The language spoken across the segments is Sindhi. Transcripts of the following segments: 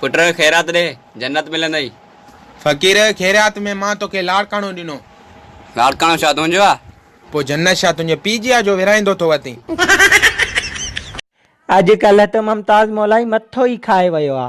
پٽ خيرات ڏي، جنت ملندئي. فقير خيرات ۾ مان توکي لاڙڪاڻو ڏنو. لاڙڪاڻو ڇا تنهنجو آ؟ پوء جنت ڇا تنهنجي پيء جي آ جو ورهائيندو ٿو وتين. اڄ ڪلهه ته ممتاز مولائي مٿو ئي کائي ويو آ.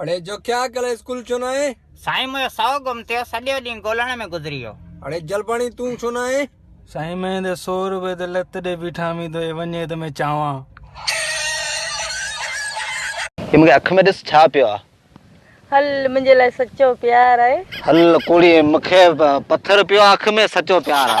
اڙي جو ڪيا ڪل اسڪول ڇو نه آئي؟ سائين مون جو سئو گم ٿيو سڄو ڏينهن ڳولهڻ ۾ گذري ويو. اڙي جلباڻي تون ڇو نه آئي؟ سائين مئين تي سو روپيه تي لت ڏئي بيٺا مين توکي وڃي ته مين چانوان. هي مون کي اک ۾ ڏس ڇا پيو آ. هل منهنجي لاء سچو پيار آهي. هل ڪوڙي مون کي پٿر پيو آ اک ۾ سچو پيار آ.